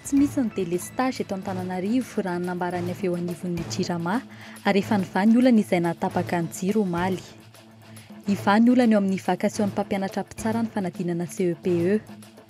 Tsy misy ny délestage eto Antananarivo raha ny nambaran'ny avy eo anivon'ny Jirama ary efa nivaha ny olana izay nahatapaka ny jiro omaly. Hivaha ny olana eo amin'ny vakasion'ny mpampianatra mpitsara ny fanadinana CEPE.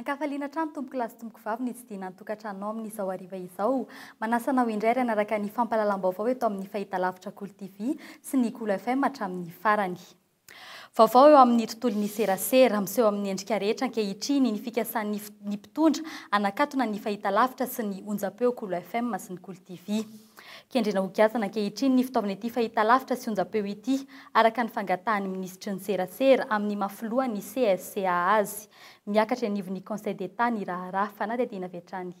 Ankafaliana hatrany tompoko lahy sy tompoko vavy ny tsidihina ny tokantranonao amin'izao hariva izao. Manasa anao indray ary hanaraka ny fampahalalam-baovao eto amin'ny fahitalavitra Kolo TV sy ny Kolo FM hatramin'ny farany. Vaovao eo amin'ny tontolon'ny serasera. Miseho amin'ny endrika rehetra ankehitriny ny fikasan'ny ny mpitondra hanakatona ny fahitalavitra sy ny onjampeo Kolo FM sy ny Kolo TV. Kendrena ho giazana ankehitriny ny fitaovana ity fahitalavitra sy onjam-peo ity, araka ny fangatahan'ny minisitry ny Serasera amin'ny maha filohan'ny CSCA azy. Miakatra eny anivon'ny Conseil d'Etat ny raharaha. Fanadihadiana avy hatrany.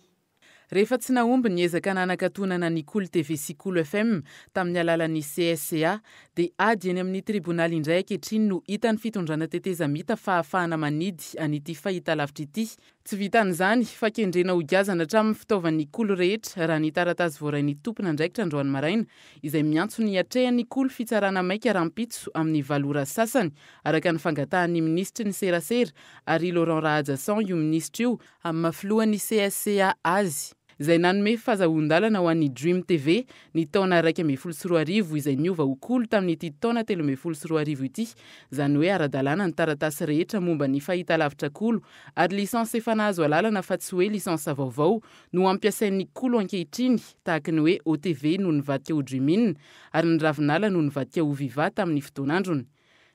Rehefa tsy nahomby ny ezaka nanakatonana ny Kolo TV sy Kolo FM tamin'ny alalan'ny CSCA, dia ady eny amin'ny tribonaly indray ankehitriny no hitan'ny fitondrana tetezamita fahafahana manidy an'ity fahitalavitra ity, Tsy vitan'izany, fa kendrena hogiazana hatramin'ny fitaovan'ny Ikolo rehetra, raha ny taratasy voarain'ny tompon'andraikitra androany maraina, izay miantso ny hiatrehan'ny Ikolo fitsarana maika rahampitso amin'ny valo ora sy sasany, araka ny fangatahan'ny minisitry ny Serasera, Harry Laurent Rahajason, io minisitra io, amin'ny maha filohan'ny CSCA azy. izay nanome fazahoan-dalana ho an'ny Dream TV ny taona iraika ambin'ny folo sy roa arivo izay niova ho kolo tamin'ity taona telo ambin'ny folo sy roa arivo ity, izany hoe ara-dalàna ny taratasy rehetra momba ny fahitalavitra kolo ary licence efa nahazo alalana fa tsy hoe licence vaovao no ampiasain'ny kolo ankehitriny tahaka ny hoe OTV no nivadika ho Dream-in ary ny Ravinala no nivadika ho Viva tamin'ny fotoan'androny.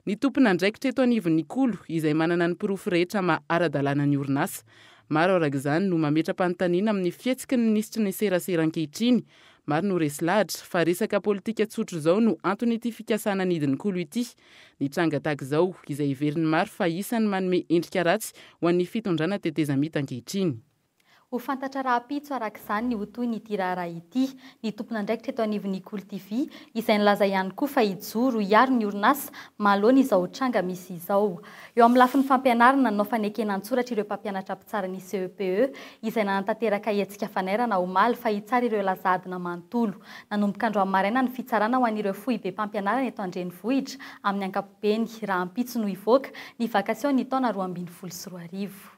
Ny tompon'andraikitra eto anivon'ny Ikolo, izay manana ny porofo rehetra maha ara-dalàna ny orinasa. Maro araka izany no mametra-panontaniana amin'ny fihetsiky ny minisitry ny Serasera ankehitriny. Maro no resy lahatra fa resaka politika tsotra izao no anton'ity fikasana ny hidin'ny Ikolo ity. Ny tranga tahaka izao, izay heverin'ny maro fa isan'ny manome endrika ratsy ho an'ny fitondrana tetezamita ankehitriny. Ho fantatra rahampitso araka izany ny ho tohin'ity raharaha ity, ny tompon'andraikitra eto anivon'ny Icul TV, izay nilaza ihany koa fa hijoro hiaro ny orinasa mahaloa ny izao tranga misy izao. Eo amin'ny lafiny fampianarana no fanekena an-tsoratra ireo mpampianatra mpitsara ny CEPE, izay nanatanteraka hetsika fanairana omaly fa hitsara ireo laza adina manontolo. Nanomboka androany maraina ny fitsarana ho an'ireo foibem-pampianarana eto an-drenivohitra amin'ny ankapobeny. Rahampitso no hivoaka ny vakasion'ny taona roa ambin'ny folo sy roa arivo.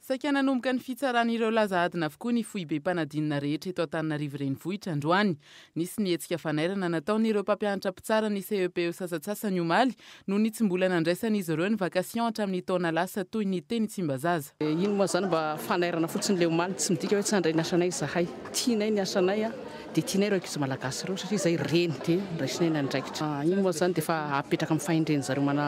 Saika nanomboka ny fitsaran'ireo laza adina avokoa ny foibem-panadinana rehetra eto Antananarivo Renivohitra androany. Nisy ny hetsika fanairana nataon'ireo mpampianatra mpitsara ny CEPE sasatsasany omaly noho ny tsy mbola nandraisan'izy ireo ny vacation hatramin'ny taona lasa toy ny teny Tsimbazaza. Ino moa izany mba fanairana fotsiny ilay omaly, tsy midika hoe tsy handray ny asanay izahay. Tianay ny asanay dia tianay ireo ankizy malagasy ireo satria izay reny dia raisinay ny andraikitra. Iny moa izany dia efa apetraka amin'ny fahendren'izareo mana.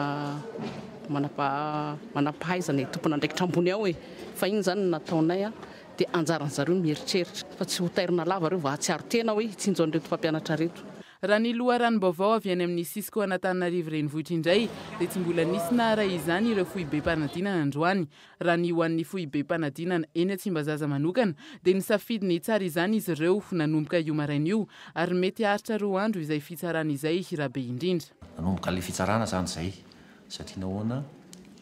manam-pahaizana e, tompon'andraikitra ambony ao e, fa iny zany no nataonay a, dia anjaran'ny zareo mieritreritra, fa tsy ho tairina lava reo vao hahatsiaro tena hoe hitsinjo an'ireto mpampianatra reto. Raha ny loharanom-baovao avy any amin'ny Cisco Anatananarivo Renivohitra indray dia tsy mbola nisy naharay izany ireo foibem-panadinana androany. Raha ny ho an'ny foibem-panadinana eny Tsimbazaza manokana dia nisafidy ny hitsara izany izy ireo nanomboka io maraina io ary mety haharitra roa andro izay fitsarana izay Rabeindrindra. Nanomboka ilay fitsarana izany izay Satria nahoana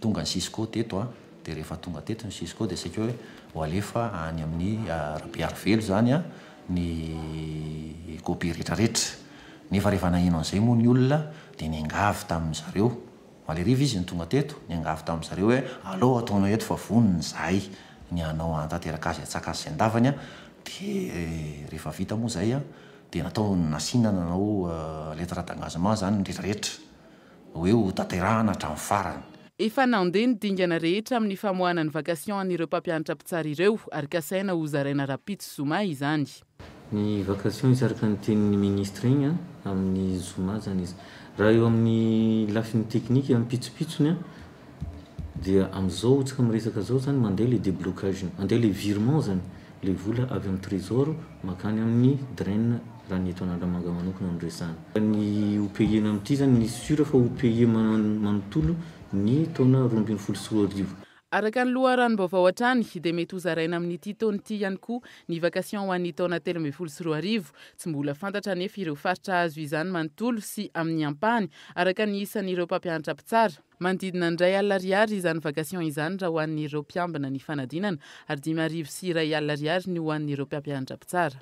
tonga ny cisco teto a? Dia rehefa tonga teto ny cisco dia saika hoe ho alefa any amin'ny Rabearivelo izany a, ny kopia rehetrarehetra. Nefa rehefa naheno an'izay moa ny olona dia niangavy tamin-dry zareo, maleriva izy no tonga teto, niangavy tamin-dry zareo hoe alao ataonao eto fa vonona izahay ny hanao hanatanteraka azy hatsaka azy sy handavany a, dia rehefa vita moa izay a, dia natao, nasiana nanao lettre d'engagement izany ny rehetrarehetra. hoe ho tanterahana hatramin'ny farany. Efa nandeha ny dingana rehetra amin'ny famoahana ny vacation an'ireo mpampianatra mpitsara ireo ary kasaina ho zaraina rahampitso zoma izany. Ny vacation izy araka ny tenin'ny ministra iny amin'ny zoma izany izy. Raha eo amin'ny lafiny teknika ampitsopitsony Dia amin'izao tsika miresaka izao zany mandeha ilay déblocage iny. Handeha ilay virement zany, ilay vola avy amin'ny trésor mankany amin'ny Dren raha ny eto Analamanga manokana no resahana. Fa ny ho payer-na amin'ity zany, ny sur fa ho payer manontolo ny taona roa ambin'ny folo sy roa arivo. Araka ny loharanom-baovao hatrany dia mety ho zaraina amin'ity taona ity ihany koa ny vacation ho an'ny taona telo ambin'ny folo sy roa arivo. Tsy mbola fantatra anefa ireo faritra hahazo izany manontolo sy amin'ny ampahany araka ny isan'ireo mpampianatra mpitsara. Manodidina ny iray alina ariary izany vacation izany raha ho an'ireo mpiambina ny fanadinana, ary dimy arivo sy iray alina ariary ny ho an'ireo mpampianatra mpitsara.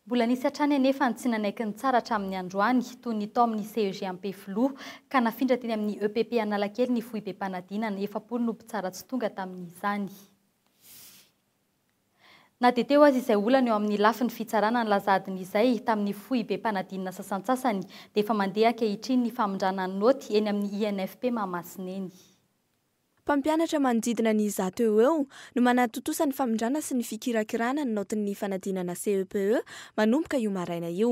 Mbola nisy hatrany anefa ny tsy nanaiky nitsara hatramin'ny androany, toy ny tao amin'ny CEG Ampefiloha, ka nafindra teny amin'ny EPP Analakely ny foibem-panadinana, efapolo no mpitsara tsy tonga tamin'izany. Na dia teo aza izay olana eo amin'ny lafiny fitsarana ny lazadiny izay, tamin'ny foibem-panadinana sasantsasany, dia efa mandeha ankehitriny ny famindrana ny naoty eny amin'ny INFP Mahamasina eny. Mpampianatra manodidina ny zato eo ho eo no manatontosa ny famindrana sy ny fikirakirana ny naotin'ny fanadinana CEPE manomboka io maraina io.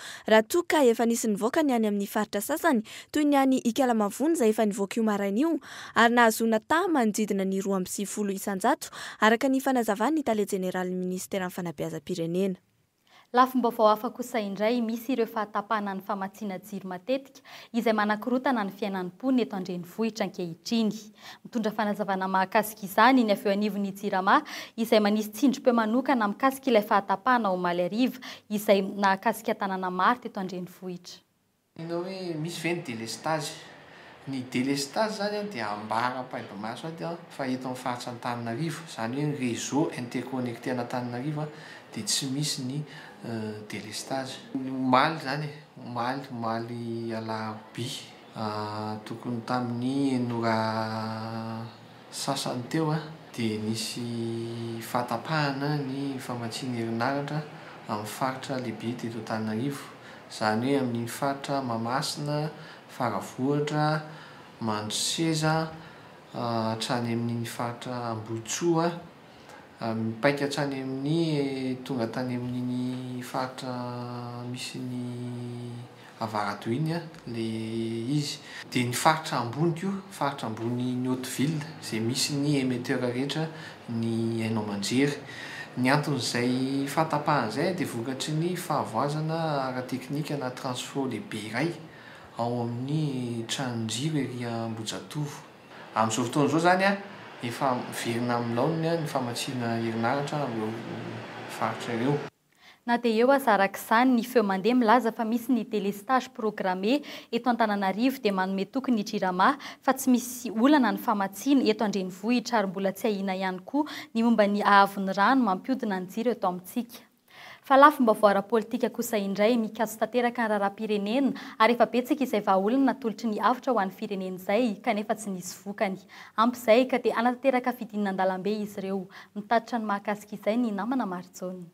Raha toa ka efa nisy nivoaka ny any amin'ny faritra sasany, toy ny any Ikalamavony izay efa nivoaka io maraina io, ary nahazoana taha manodidina ny roa amby sivifolo isan-jato, araka ny fanazavan'ny tale jeneralin'ny minisiteran'ny fanabeazam-pirenena. Lafim-baovao hafa kosa indray, misy ireo fahatapahana ny famatsiana jiro matetika, izay manakorotana ny fiainan'ny mponina eto an-drenivohitra ankehitriny. Mitondra fanazavana mahakasika izany ny avy eo anivon'ny Jirama izay manisy tsindrim-peo manokana mikasika ilay fahatapahana omaly hariva izay nahakasika tanàna maro teto an-drenivohitra. Inona hoe misy ve ny delestazy? Ny delestazy izany dia ambara am-paibomaso aty fa eto amin'ny faritra Antananarivo, izany hoe ny réseau interconnecté an'Antananarivo dia tsy misy ny délestage. Ny omaly izany e, omaly, omaly alarobia, tokony tamin'ny enina ora sasany teo dia nisy fahatapahana ny famatsiana herinaratra amin'ny faritra lehibe teto Antananarivo, izany hoe amin'iny faritra Mahamasina, Faravohitra, Mandroseza, hatrany amin'iny faritra Ambohitsoa. Mipaika hatrany amin'ny tonga tany amin'iny faritra misy ny avarato iny ilay izy. Dia ny faritra ambony koa, faritra ambony ny haute ville izay misy ny emetteur rehetra ny haino aman-jery. Ny anton'izay fahatapahana izay dia vokatry ny fahavoazana ara-teknika na transfo lehibe iray ao amin'ny tranon-jiro ery Ambohijatovo. Amin'izao fotoana izao izany, efa miverina amin'ny laoniny ny famatsiana herinaratra amin'ireo faritra ireo. Na dia eo aza araka izany, ny feo mandeha milaza fa misy ny délestage programmé eto Antananarivo dia manome toky ny Jirama fa tsy misy olana ny famatsiana eto an-drenivohitra ary mbola tsy ahiana ihany koa ny momba ny haavon'ny rano mampiodina ny jiro eto amintsika. Fa lafim-baovao ara-politika kosa indray, mikatso tanteraka ny raharaham-pirenena, ary efa betsaka izay vahaolana natolotry ny avotra ho an'ny firenena izay, kanefa tsy nisy vokany. Ampy izay, ka dia hanatanteraka fidinana an-dalambe izy ireo. Mitatitra ny mahakasika izay ny namana Marijaona.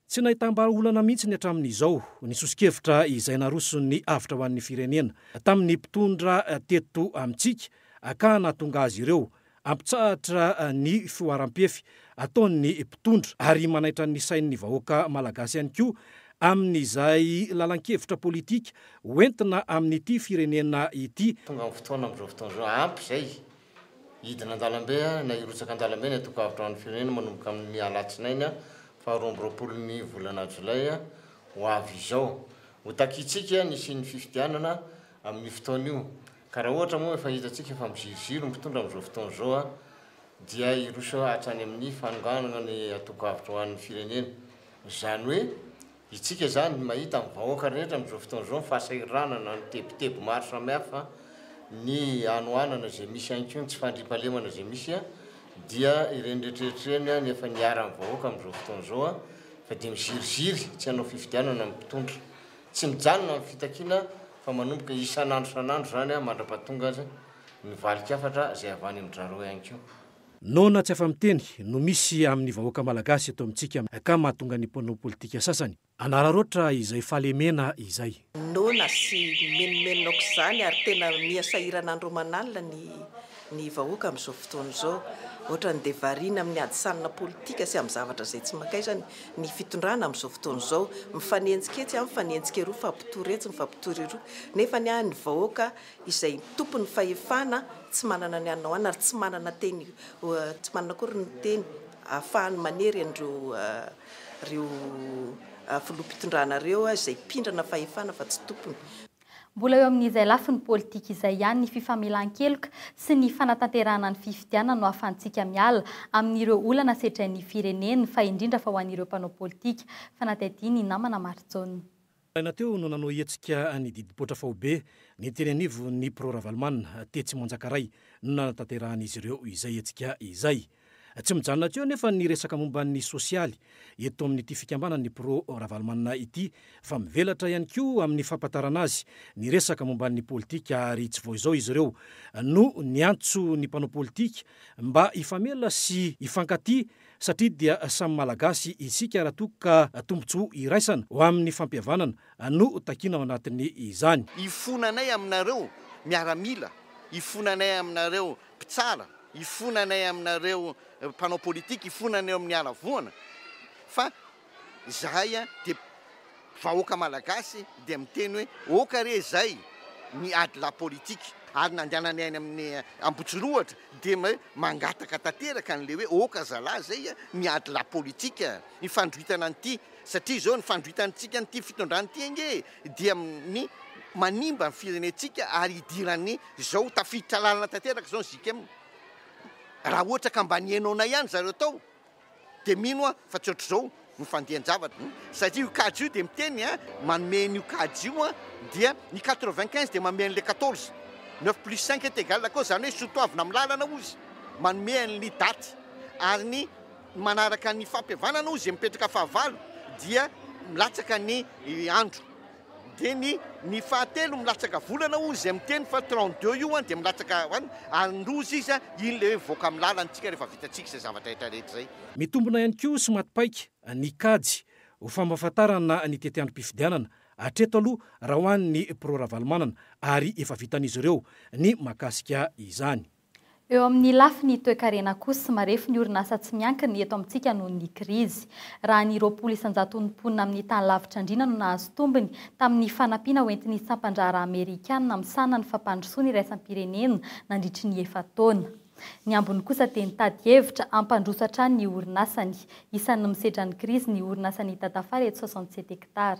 Tsy nahitam-bahaolana mihitsy ny hatramin'izao ny soso-kevitra izay naroson'ny avotra ho an'ny firenena tamin'ny mpitondra teto amintsika, ka nahatonga azy ireo Hampitsahatra ny fihoaram-pefy ataon'ny mpitondra ary manaitra ny sain'ny vahoaka Malagasy ihany koa amin'izay lalan-kevitra politika ho entina amin'ity firenena ity. Tonga ny fotoana amin'izao fotoana izao, ampy izay. Hidina an-dalambe na hirotsaka an-dalambe ny antoko Avo Trano Firenena manomboka amin'ny alatsinainy faha roa amby roapolo ny volana jolay ho avy izao. Ho takiantsika ny hisian'ny fifidianana. amin'io fotoana io ka raha ohatra moa efa hitantsika fa miziroziro ny mpitondra amin'izao fotoana izao dia hiroso hatrany amin'ny fanonganana ny antoko avotra ho an'ny firenena izany hoe itsika izany mahita amin'ny vahoaka rehetra amin'izao fotoana izao ny fahasahiranana ny tebiteby maro samihafa ny hanohanana izay misy ihany koa ny tsy fandriampahalemana izay misy dia ireny rehetrarehetra ireny any efa niharan'ny vahoaka amin'izao fotoana izao fa dia miziriziry tsy hanao fifidianana ny mpitondra Tsy mijanona ny fitakiana fa manomboka isan'andro isan'andro izany mandra-pahatonga azy ny valin-kafatra izay avy any amin-dRareo ihany koa. Noana tsy afa-miteny no misy amin'ny vahoaka malagasy eto amintsika ka mahatonga ny mpanao politika sasany hanararaotra izay fahalemena izay. Noana sy mimenomenona aok'izany ary tena miha sahirana andro aman'alina ny ny vahoaka amin'izao fotoana izao. Ohatran'ny dia variana amin'ny hadisanina politika sy amin'ny zavatra izay tsy mankaizany ny fitondrana amin'izao fotoana izao. Mifanenjika etsy an, mifanenjika eroa, mifampitory etsy, mifampitory eroa. Nefa ny ahy ny vahoaka izay tompon'ny fahefana tsy manana ny hanao anona ary tsy manana teny tsy manana akory ny teny ahafahany manery an'ireo ireo filoham-pitondrana ireo izay mpindrana fahefana fa tsy tompony. Mbola eo amin'izay lafiny politika izay ihany ny fifamelan-keloka sy ny fanatanterahana ny fifidianana no ahafantsika miala amin'ireo olana sedrain'ny firenena fa indrindra fa ho an'ireo mpanao politika, fanadihadian'i namana Marijaona. Maraina teo no nanao hetsika ny didim-poitra faobe ny teny anivon'ny Pro Ravalomanana tetsy Manjakaray no nanatanterahany izy ireo izay hetsika izay. Tsy mijanona teo anefa ny resaka momba ny sosialy eto amin'ity fikambanan'ny Pro Ravalomanana ity fa mivelatra ihany koa amin'ny fampatarana azy ny resaka momba ny politika ary tsy vao izao izy ireo no niantso ny mpanao politika mba hifamela sy hifankatia satria dia samy Malagasy isika raha toa ka tombotsoa iraisana ho amin'ny fampihavanana no takiana ao anatin'izany. Hifona anay aminareo miaramila, hifona anay aminareo mpitsara hifona anay aminareo mpanao politika hifona anay eo amin'ny haravoana fa izahay dia vahoaka malagasy dia miteny hoe oka re izay ny ady la politika ary nandehananay any amin'ny ambotsirohatra dia hoe mangataka tanteraka an'le hoe oka zalahy izay ny ady la politika ny fandroitana an'ity satria izao ny fandroitantsika an'ity fitondrana ity ange dia ny manimba ny firenentsika ary hidiran'ny zao tafiditra lalana tanteraka zao ny JKM raha ohatra ka mba nihainaonay ihany zareo tao dia mino aho fa tsy ohatr'izao ny fandehan-javatra satria io kajy io dia miteny a manome an'io kajy io a dia ny 95 dia manome an'ilay 14 9 plus 5 est égal à quoi zany hoe sotoavina amin'ny lalana ozy manome an'ny daty ary ny Manaraka ny fampihavanana hoy izay mipetraka fahavalo dia milatsaka ny andro dia ny ny fahatelo milatsaka volana hoy izay miteny fa trente deux io an dia milatsaka an ary ndozy izy an iny ilay hoe mivoaka amin'ny lalantsika rehefa vitantsika izay zavatra rehetra rehetra izay. Mitombina ihany koa sy maty paika ny kajy ho fampahafantarana ny tetiandrom-pifidianana hatreto aloha raha ho an'ny Pro Ravalomanana ary efa vitan'izy ireo ny mahakasika izany. Eo amin'ny lafiny toekarena kosa, marefo ny orinasa tsy miankina eto amintsika noho ny krizy. Raha ny roapolo isan-jaton'ny mponina amin'ny tany lavitra andriana no nahazo tombony tamin'ny fanampiana hoentin'ny sampan-draharaha amerikana misahana ny fampandrosoana iraisam-pirenena nandritry ny efa-taona. Ny ambiny kosa dia nitady hevitra hampandroso hatrany ny orinasany. Isan'ny misedra ny krizy ny orinasa Nita Tafara eto Soixante-sept Hectares.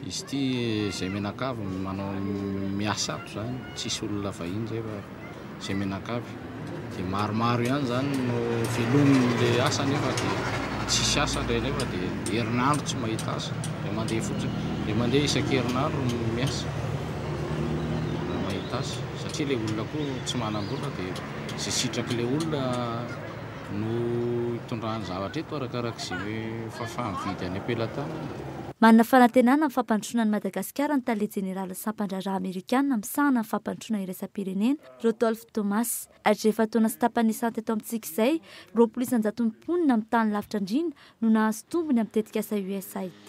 Izy ity izay mianakavy no manao miasa ato izany, tsisy olona vahiny izay fa izay mianakavy. Dia maromaro ihany izany no velomin'ilay asa nefa dia tsisy asa ilay ilay fa dia herinandro tsy mahita asa. Dia mandeha fotsiny, dia mandeha isan-kerinandro no miasa raha mahita asa satria ilay olona koa tsy manam-bola dia izay sitrak'ilay olona no itondrany zavatra eto arakaraka izay fahafaha mividy any am-pelatanana. Manana fanantenana amin'ny fampandrosoana an'i Madagasikara ny tale jeneralin'ny sampan-draharaha amerikana misahana ny fampandrosoana iraisam-pirenena, Rodolph Thomas. Hatry ny efa-taona sy tapany lisa teto amintsika izay, roapolo isan-jaton'ny mponina amin'ny tany lavitra andriana no nahazo tombony amin'ny tetikasa USAID.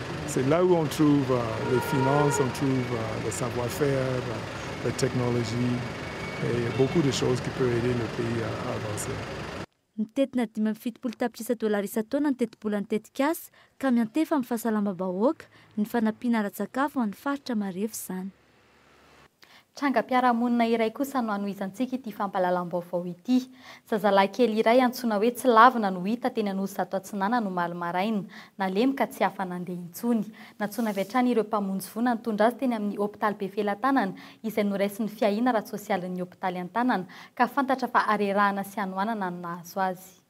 C'est là où on trouve les finances, on trouve le savoir faire, la technologie et beaucoup de choses qui peut aider le pays à avancer. Mitentina dimy amby fitopolo tapitrisa dolara isan-taona ny tetibolan'ny tetikasa ka miantefa amin'ny fahasalamam-bahoaka ny fanampiana ara-tsakafo ho an'ny faritra marefo izany. Trangam-piarahamonina iray kosa no hanohizantsika ity fampahalalam-baovao ity. Zazalahy kely iray antsoina hoe Tsilavina no hita teny Anosizato Atsinanana omaly maraina. Nalemy ka tsy afa-nandeha intsony. Nantsoina avy hatrany ireo mpamonjy voina nitondra azy teny amin'ny hopitaly Befelatanana izay noraisin'ny fiahiana ara-tsosialin'ny hopitaly an-tanana ka fantatra fa harerahana sy hanohanana no nahazo azy.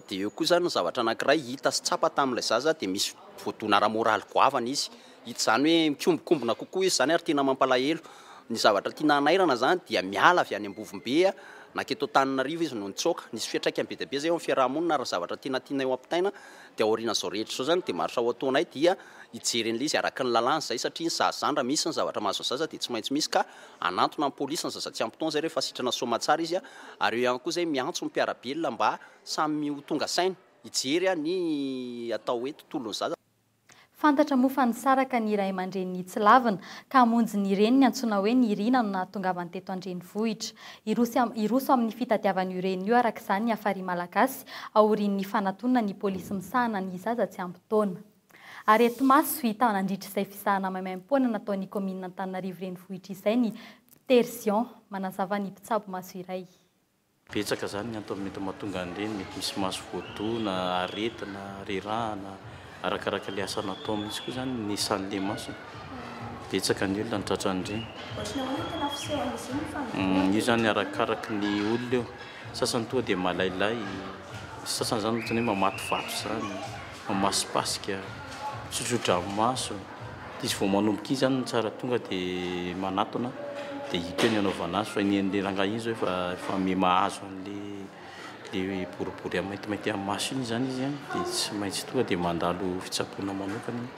Dia eo koa izany ny zavatra anankiray hita sy tsapa tamin'ilay zaza dia misy voadona ara-moraly goavana izy. Hita izany hoe mikombokombona kokoa izy izany ary tena mampalahelo. Ny zavatra tiana hanairana izany dia miala avy any Ambovombe nankety Antananarivo izy no nitsoaka. Nisy fiantraikany be dia be izay eo amin'ny fiaraha-monina ary ny zavatra tena tianay ho ampitaina dia aorian'izao rehetra izao izany dia maro sao ataonay dia hijery an'ilay izy araka ny lalàna izay satria ny zazandra misy ny zavatra mahazo ny zaza dia tsy maintsy misy ka hanantona ny polisy ny zaza tsy ampy taona izay rehefa sitrana soamatsara izy ary eo ihany koa izay miantso ny mpiara-belona mba samy ho tonga saina hijery ny atao hoe tontolon'ny zaza. Fantatra moa fa nisaraka ny ray aman-dreny nitsilavina ka hamonjy ny reniny antsoina hoe Nirina no nahatongavany teto an-drenivohitra. Hiroso hiroso amin'ny fitadiavana io reniny io araka izany ny Hafari Malagasy aorian'ny fanatonana ny polisy misahana ny zaza tsy ampy taona. Areti-maso hita nandritra izay fisahana maimaim-poana nataon'ny kaominina Antananarivo Renivohitra izay ny Ptersion, manazava ny mpitsabo maso iray. Betsaka izany ny antony mety mahatonga an'ireny, mety misy maso voadona, aretina, rerahana, arakaraka ilay asa natao mihitsy koa izany ny isan'ilay maso e! Betsaka ny olona no tratran'ireny. Io izany arakaraka ny olona io. Sasany toa dia malailay, ny sasany izany ohatran'ny hoe mamatovato izany, mamaspasika, misotrodranomaso. Dia izy vao manomboka iny izany no tsara tonga dia manatona dia hita eo ny anaovana azy fa ny an'ilay rangahy iny izao efa efa miha mahazo an'ilay ilay boribory maintimainty amin'ny maso iny izany izy a, dia tsy maintsy tonga dia mandalo fitsaboana manokana izy.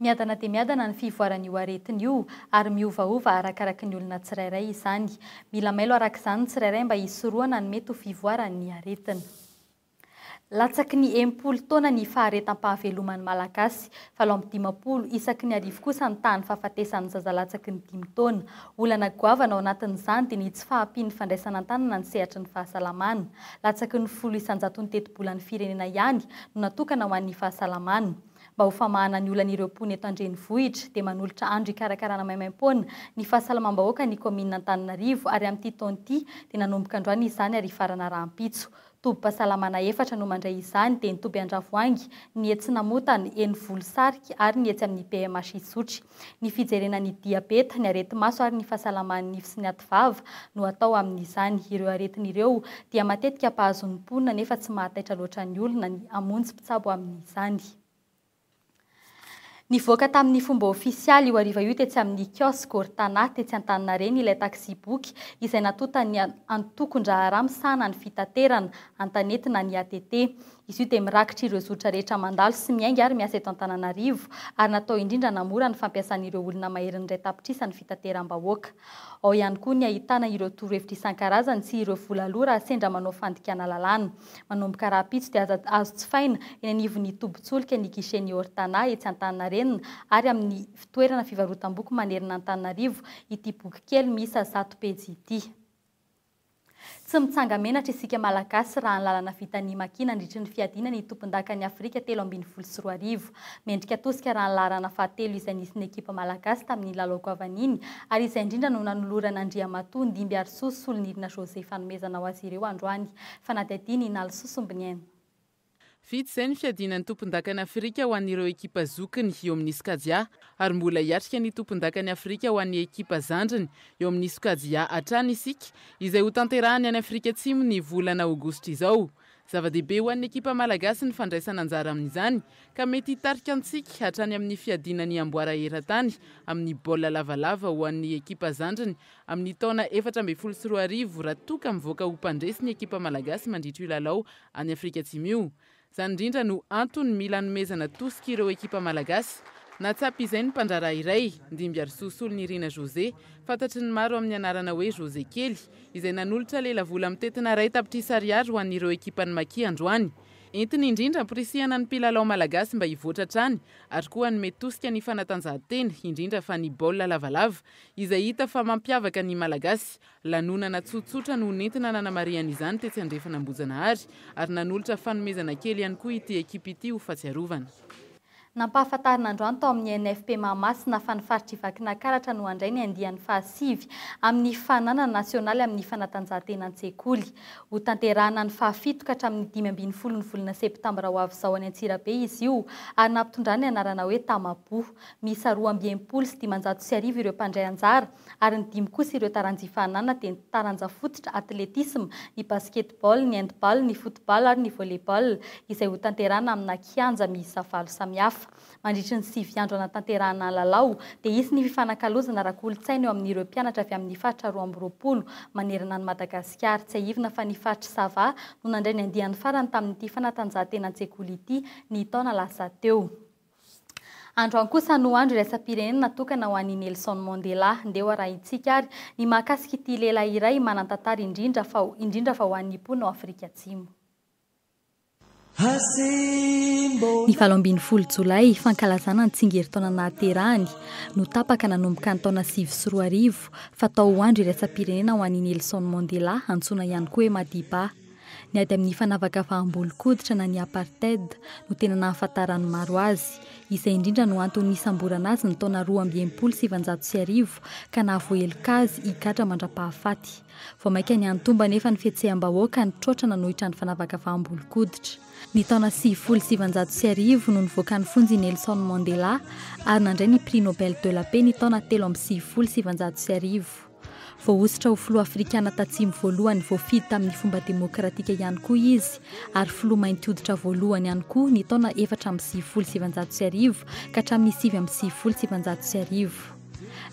Miadana dia miadana ny fivoaran'io aretina io ary miovaova arakaraky ny olona tsirairay izany. Mila mailo araka izany ny tsirairay mba hisorohana ny mety ho fivoaran'ny aretina. Latsaky ny enimpolo taona ny faharetam-pahaveloman'ny Malagasy, valo amby dimampolo isaky ny arivo kosa ny tahan'ny fahafatesan'ny zaza latsaky ny dimy taona. Olana goavana ao anatin'izany dia ny tsy fahampian'ny fandraisana an-tanana ny sehatry ny fahasalamana. Latsaky ny folo isan-jaton'ny tetibolan'ny firenena ihany no natokana ho an'ny fahasalamana. Mba ho famahana ny olan'ireo mponina eto an-drenivohitra dia manolotra andro hikarakarana maimaim-poana ny fahasalamam-bahoaka ny kaominina Antananarivo ary amin'ity taona ity dia nanomboka androany izany ary hifarana rahampitso. Tobim-pahasalamana efatra no mandray izany dia ny toby Andravoahangy, ny etsy Namotana, eny Volosarika ary ny etsy amin'ny PMH Isotry. Ny fijerena ny diabeta, ny areti-maso ary ny fahasalaman'ny nify sy ny ativava no atao amin'izany. Ireo aretina ireo dia matetika mpahazo ny mponina nefa tsy mahataitra loatra ny olona ny hamonjy mpitsabo amin'izany. Nivoaka tamin'ny fomba ofisialy io hariva io tetsy amin'ny kiosque Ortana tetsy Antaninarenina ilay taxi-boky izay natontan'ny antokon-draharaha misahana ny fitaterana, Antanety na ny ATT. Izy io dia mirakitra ireo zotra rehetra mandalo sy miainga ary miasa eto Antananarivo ary natao indrindra hanamora ny fampiasan'ireo olona maherin'ny iray tapitrisa ny fitateram-bahoaka. Ao ihany koa ny ahitana ireo torohevitra isan-karazany sy ireo vola aloa raha sendra manao fandikana lalàna. Manomboka rahampitso dia aza azo jifaina eny anivon'ny tobin-tsolika ny guichet-n'ny Ortana etsy Antaninarenina ary amin'ny fitoerana fivarotam-boky manerana Antananarivo ity boky kely miisa zato pejy ity. Tsy mitsanga-menatra isika Malagasy raha ny lalana vitan'ny Maki nandritry ny fiadiana ny tompondakan'i Afrika telo ambin'ny folo sy roa arivo. Mendrika tosika raha ny laharana fahatelo izay nisy ny ekipa Malagasy tamin'ny lalao goavaniny ary izay indrindra no nanoloran'Andriamatoa Ndimbiarisoa Solonirina José fanomezana ho azy ireo androany. Fanadihadiana i Nalisoa Sombiniaina. Vita izay ny fiadiana ny tompondakan'i Afrika ho an'ireo ekipa zokiny eo amin'ny sokajy A ary mbola hiatrika ny tompondakan'i Afrika ho an'ny ekipa zandriny eo amin'ny sokajy A hatrany isika izay ho tanterahany any Afrika Atsimo ny volana aogositra izao. Zava-dehibe ho an'ny ekipa malagasy ny fandraisana anjara amin'izany ka mety hitarika antsika hatrany amin'ny fiadiana ny amboara eran-tany amin'ny baolina lavalava ho an'ny ekipa zandriny amin'ny taona efatra ambin'ny folo sy roa arivo raha toa ka mivoaka ho mpandresy ny ekipa malagasy mandritra io lalao any Afrika Atsimo io. Izany indrindra no antony mila anomezana tosika ireo ekipa malagasy. Nahatsapa izay ny mpandraharaha iray, Ndimbiarisoa Solonirina José, fantatry ny maro amin'ny anarana hoe José Kely, izay nanolotra lelavola mitentina iray tapitrisa ariary ho an'ireo ekipan'ny Maki androany. Entiny indrindra amporisihana ny mpilalao malagasy mba hivoatra hatrany ary koa hanome tosika ny fanatanjahantena, indrindra fa ny baolina lavalava, izay hita fa mampiavaka ny Malagasy. Lanonana tsotsotra no nentina nanamarihana izany tetsy andrefana Ambohijanahary, ary nanolotra fanomezana kely ihany koa ity ekipa ity ho fahatsiarovana. Nampahafantarina androany tao amin'ny NFP Mahamasina fa ny faritr'i Vakinakaratra no handray ny andiany fahasivy amin'ny fananana nasionaly amin'ny fanatanjahantena an-tsekoly. Hotanterahina ny fahafito ka hatramin'ny dimy ambin'ny folo ny volana septambra ho avy izao any Antsirabe izy io ary nampitondrany ny anarana hoe Tamaboho. Miisa roa amby enimpolo sy dimanjato sy arivo ireo mpandray anjara ary ny dimy kosa ireo taranja ifahanana dia ny taranja fototra, atletisma, ny basketball, ny handball, ny football ary ny volleyball izay hotanterahina amina kianja miisa valo samihafa. Mandritry ny sivy andro hanatanterahana ny lalao dia hisy ny fifanakalozana ara-kolontsaina eo amin'ireo mpianatra avy amin'ny faritra roa amby roapolo manerana an'i Madagasikara. Tsiahivina fa ny faritry Sava no nandray ny andiany farany tamin'ity fanatanjahantena an-tsekoly ity ny taona lasa teo. Androany kosa no andro iraisam-pirenena natokana ho an'i Nelson Mandela. Ndeha ho arahintsika ary ny mahakasika ity lehilahy iray manan-tantara indrindra fa indrindra fa ho an'ny mponina ao Afrika Atsimo. Ny valo ambin'ny folo Jolay, fankalazana ny tsingerin-taona nahaterahany, no tapaka nanomboka ny taona sivy sy roa arivo, fatao ho andro iraisam-pirenena ho an'i Nelson Mandela, antsoina ihany koa hoe Madiba. Ny ady amin'ny fanavakavaham-bolon-koditra na ny apartheid no tena nahafantaran'ny maro azy. Izay indrindra no antony nisamborana azy ny taona roa amby enimpolo sy sivinjato sy arivo ka nahavoaheloka azy higadra mandra-pahafaty. Vao mainka niha-nitombo anefa ny fihetseham-bahoaka nitroatra nanohitra ny fanavakavaham-bolon-koditra. Ny taona sivifolo sy sivinjato sy arivo no nivoakan'ny fonja i Nelson Mandela ary nandray ny Prix Nobel de la Paix ny taona telo amby sivifolo sy sivinjato sy arivo. Voahosotra ho filoha afrikana tatsimo voalohany voafidy tamin'ny fomba demokratika ihany koa izy, ary filoha mainty hoditra voalohany ihany koa ny taona efatra amby sivifolo sy sivinjato sy arivo ka hatramin'ny sivy amby sivifolo sy sivinjato sy arivo.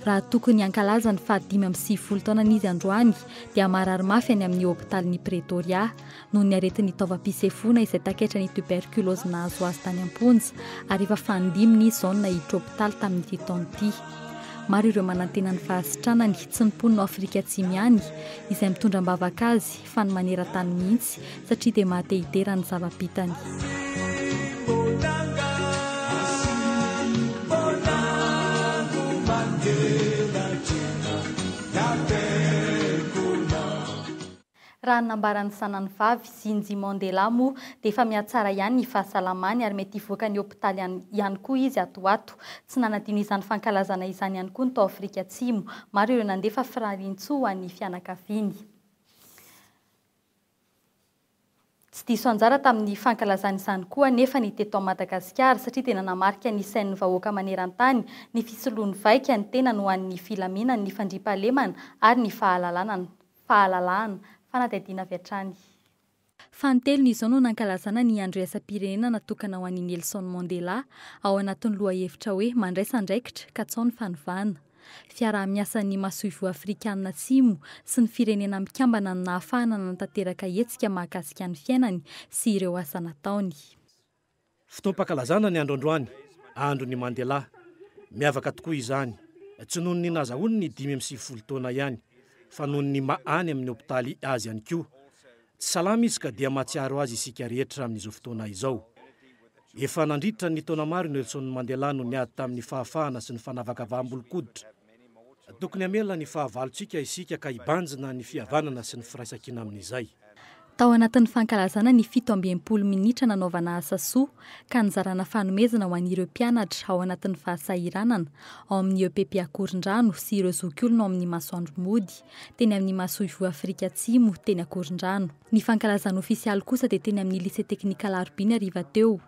Raha tokony hankalaza ny fahadimy amby sivifolo taonany izy androany dia marary mafy any amin'ny hopitalin'i Pretoria, noho ny aretin'ny taovam-pisefoana izay takaitra ny tuberculose nahazo azy tany am-ponja ary efa fahadiminy izy izao no naiditra hopitaly tamin'ity taona ity. Maro ireo manantena ny fahasitranany, tsy ny mponina ao Afrika Atsimo ihany, izay mitondra am-bavaka azy, fa ny maneran-tany mihitsy, satria dia mahatehitera ny zava-bitany. Raha ny nambaran'ny zanany vavy, Zinji Mandela, moa dia efa mihatsara ihany ny fahasalamany ary mety hivoaka ny hopitaly any ihany koa izy ato ho ato. Tsy nanadino izany fankalazana izany ihany koa ny tao Afrika Atsimo. Maro ireo nandefa firariantsoa ho an'ny fianakaviany. Tsy diso anjara tamin'ny fankalazana izany koa anefa ny teto ao Madagasikara, satria dia nanamarika ny sain'ny vahoaka maneran-tany ny fisoloan'ny vaika ny tenany ho an'ny filaminana, ny fandriampahalemana ary ny fahalalanana, fahalalahana. Fanadihadiana avy hatrany. Fanintelony izao no nankalazana ny Andro Iraisam-pirenena natokana ho an'i Nelson Mandela, ao anatin'ny lohahevitra hoe Mandraisa andraikitra, katsaho ny fanovana. Fiaraha-miasan'ny Masoivoho Afrikanina Atsimo sy ny Firenena Mikambana no nahafahana nanatanteraka hetsika mahakasika ny fiainany sy ireo asa nataony. Fotoam-pankalazana ny andro androany, andron'i Mandela. Miavaka tokoa izany, tsy noho ny nahazahoany ny dimy amby sivifolo taona ihany, fa noho ny maha any amin'ny hopitaly azy ihany koa. Tsy salama izy ka dia mahatsiaro azy isika rehetra amin'izao fotoana izao. Efa nandritra ny taona maro i Nelson Mandela no niady tamin'ny fahafahana sy ny fanavakavaham-bolon-koditra. Tokony hamela ny fahavalontsika isika ka hibanjina ny fihavanana sy ny firaisankina amin'izay. Tao anatin'ny fankalazana ny fito amby enimpolo minitra nanaovana asa soa ka nizarana fanomezana ho an'ireo mpianatra ao anatin'ny fahasahiranana, ao amin'ny EPP Akorondrano sy ireo zokiolona ao amin'ny Masoandro Mody, teny amin'ny masoivoho Afrika Atsimo, teny Ankorondrano. Ny fankalazana ofisialy kosa dia teny amin'ny Lycée Technique Alarobia ny hariva teo.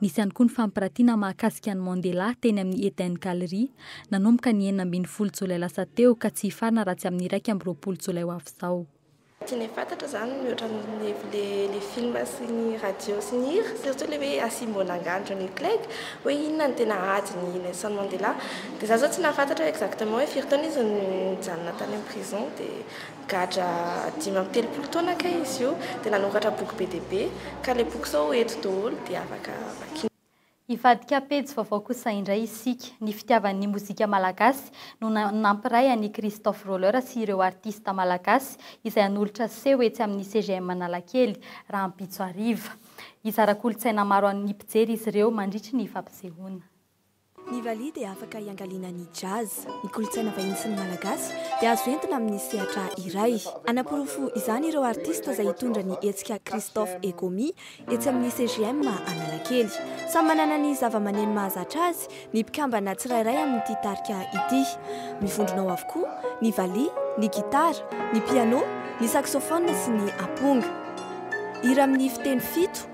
Nisy ihany koa ny fampirantiana mahakasika an'i Mandela teny amin'ny Eden Gallery, nanomboka ny enina ambin'ny folo jolay lasa teo ka tsy hifarana raha tsy amin'ny iraika amby roapolo jolay ho avy izao. Tsy le fantatra zany mihoatra ny le le film sy ny radio sy ny hira surtout le hoe asimbo an'angano Johnny Clegg hoe inona no tena ady ny Nelson Mandela Dia za zao tsy nahafantatra exactement hoe firy taona izy nijanona tany am prison dia nigadra dimy amby telopolo taona kay izy io dia nanoratra boky be dia be ka le boky sao ho eto doholo dia afaka vakiana. Hivadika pejy vaovao kosa indray isika. Ny fitiavany ny mozika malagasy no nampiray an'i Christophe Roller sy ireo artista malagasy izay hanolotra seho etsy amin'ny CGM Analakely, rahampitso hariva. Hizara kolontsaina maro amin'ny mpijery izy ireo mandritry ny fampisehoana. Ny valiha dia afaka hiangaliana ny jazz, ny kolontsaina vahiny sy ny Malagasy dia azo entina amin'ny sehatra iray. Hanaporofo izany ireo artista izay hitondra ny hetsika Christophe et Gomi etsy amin'ny CGM Analakely. Samy manana ny zavamaneno mahazatra azy ny mpikambana tsirairay amin'ity tarika ity. Mivondrona ao avokoa ny valiha, ny gitara, ny piano, ny saxophone sy ny amponga. Hira amin'ny fiteny fito.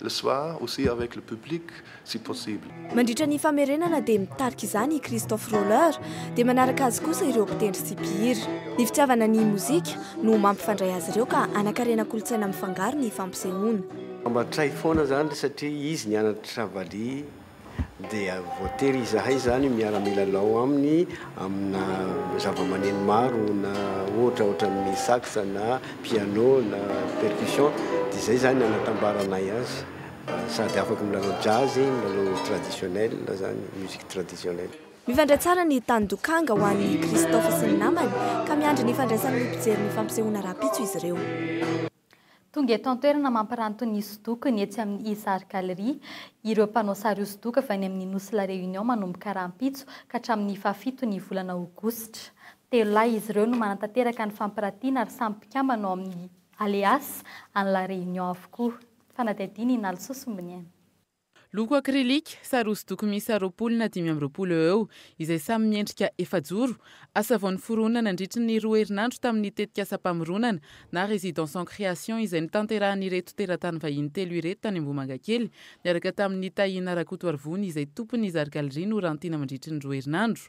Le soir aussi avec le public si possible. Mandritra ny famerenana dia mitarika izany i Christophe Roller, dia manaraka azy kosa ireo mpitendry sy mpihira. Ny fitiavana ny mozika no mampifandray azy ireo ka hanakarena kolontsaina mifangaro ny fampisehoana. Mba tray foana izany satria izy nianatra valiha. dia voatery izahay izany miara-milalao aminy amina zava-maneno maro na ohatra ohatran'ny sax na piano na percussion dia izay izany anatambaranay azy sady afaka milalao jazz, milalao traditionnel izany, musique traditionnelle. Mifandray tsara ny tany Dokanga ho an'i Christophe sy ny namany ka miandry ny fandraisan'ny mpijery ny fampisehoana rahampitso izy ireo. Tonga eto an-toerana mampiranty ny hosodokony etsy amin'ny Izar Galerie ireo mpanao sary hosodoko avy any amin'ny Nosy La Réunion manomboka rahampitso ka hatramin'ny faha-fito ny volana aogositra. Telo lahy izy ireo no manatanteraka ny fampirantiana ary samy mpikambana ao amin'ny Aleas any La Réunion avokoa. Fanadihadiana i Nalsosy Mboniaina. Loko akrilika, sary hosodoko miisa roapolo na dimy amby roapolo eo eo, izay samy miendrika efajoro, asa vao noforonina nandritry ny roa herinandro tamin'ny tetikasam-pamoronana na résidence en création izay notanterahan'ireto teratany vahiny telo ireto tany Ambohimangakely niaraka tamin'ny Tahiana Rakotoarivony izay tompon'ny Zary Galerie Norantina mandritry ny roa herinandro.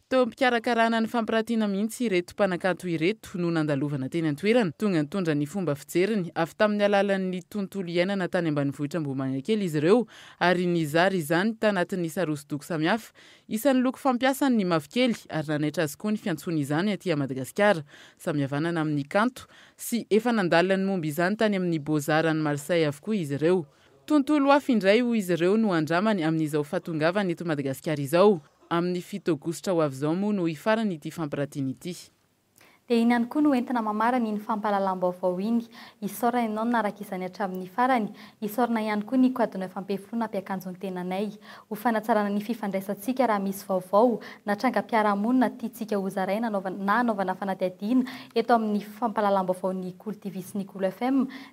Teo am-pikarakarana ny fampirantiana mihitsy ireto mpanakanto ireto no nandalovana teny an-toerana. Tonga nitondra ny fomba fijeriny avy tamin'ny alalan'ny tontolo iainana tany ambanivohitra Ambohimangakely izy ireo ary nizara izany tanatin'ny sary hosodoko samihafa. Isan'ny loko fampiasany ny mavokely ary nanaitra azy koa ny fiantsoany izany aty Madagasikara. Samy havanana amin'ny kanto sy efa nandalany momba izany tany amin'ny Beaux Arts any Marseille avokoa izy ireo. Tontolo hafa indray hoy izy ireo no handramany amin'izao fahatongavany eto Madagasikara izao. Amin'ny fito aogositra ho avy izao moa no hifarana ity fampirantiana ity. Dia iny ihany koa no entina mamarana iny fampahalalam-baovao iny. Isaorana ianao nanaraka izany hatramin'ny farany. Isaorana ihany koa ny Quadno Fampiheforoana hampiakanjo ny tenanay. Ho fanatsarana ny fifandraisantsika raha misy vaovao na trangam-piarahamonina tiantsika hozaraina na hanaovana fanadihadiana eto amin'ny fampahalalam-baovao Ny Kolo TV sy Ny Kolo FM